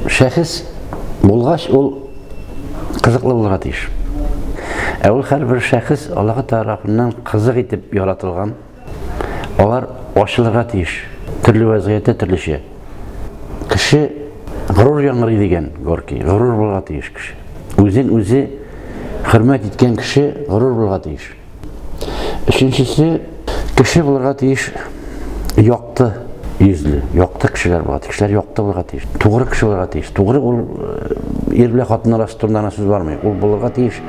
Шәхес булгач, ул кызыклы булырга тиеш. Ә ул һәрбер шәхес Аллаһ тарафыннан кызык итеп яратылган. Алар ачылырга тиеш. Төрле вазгыятьтә төрлечә. Кеше горур яңгырый дигән Горки. Горур булырга тиеш кеше. Үзен үзе хөрмәт иткән кеше горур булырга тиеш. Өченчесе, кеше булырга тиеш якты йөзле, якты кешеләр булырга тиеш, кешеләр якты булырга тиеш, тугры кеше булырга тиеш. Тугры ул э, ир белән хатын арасы турында гына сүз бармый, ул булырга тиеш.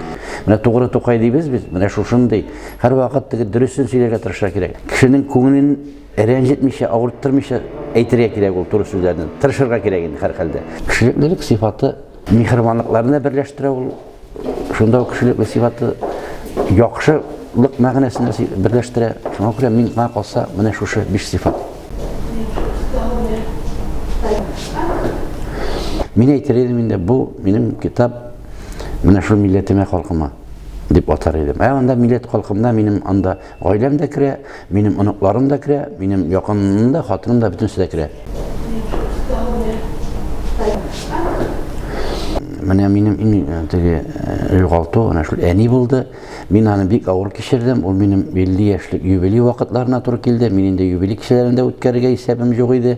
Менә тугры тукай дибез без, менә шушындый. Һәрвакыт теге дөресен сөйләргә тырышырга кирәк. Кешенең күңелен рәнҗетмичә, авырттырмыйча әйтергә кирәк ул туры сүзләрне. Тырышырга кирәк инде һәрхәлдә. Кешелеклелек сыйфаты миһербанлыкларны берләштерә ул. Шунда ук кешелекле сыйфаты яхшылык мәгънәсен берләштерә. Шуңа күрә мин миңа калса, менә шушы биш сыйфат. Мин әйтер идем инде, бу минем китап менә шул милләтемә, халкыма дип атар идем. Ә анда милләт халкымда минем анда Гаиләм дә керә, минем оныкларым да керә, минем якыным да, хатыным да бөтенесе дә керә. Менә минем иң э, теге э, югалту менә шул әни булды. Мин аны бик авыр кичердем. Ул минем 50 яшьлек юбилей вакытларына туры килде. Мин инде юбилей кичәләрендә үткәрергә исәбем юк иде.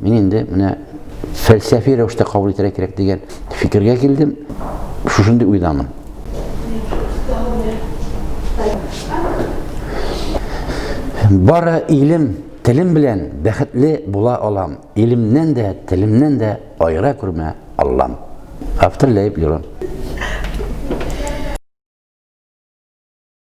Мин инде менә фәлсәфи рәвештә кабул итәргә кирәк дигән фикергә килдем. Шушындый уйдамын. Бары илем, телем белән бәхетле була алам. Илемнән дә, телемнән дә айра күрмә Аллам. Автор Ләйб Лерон.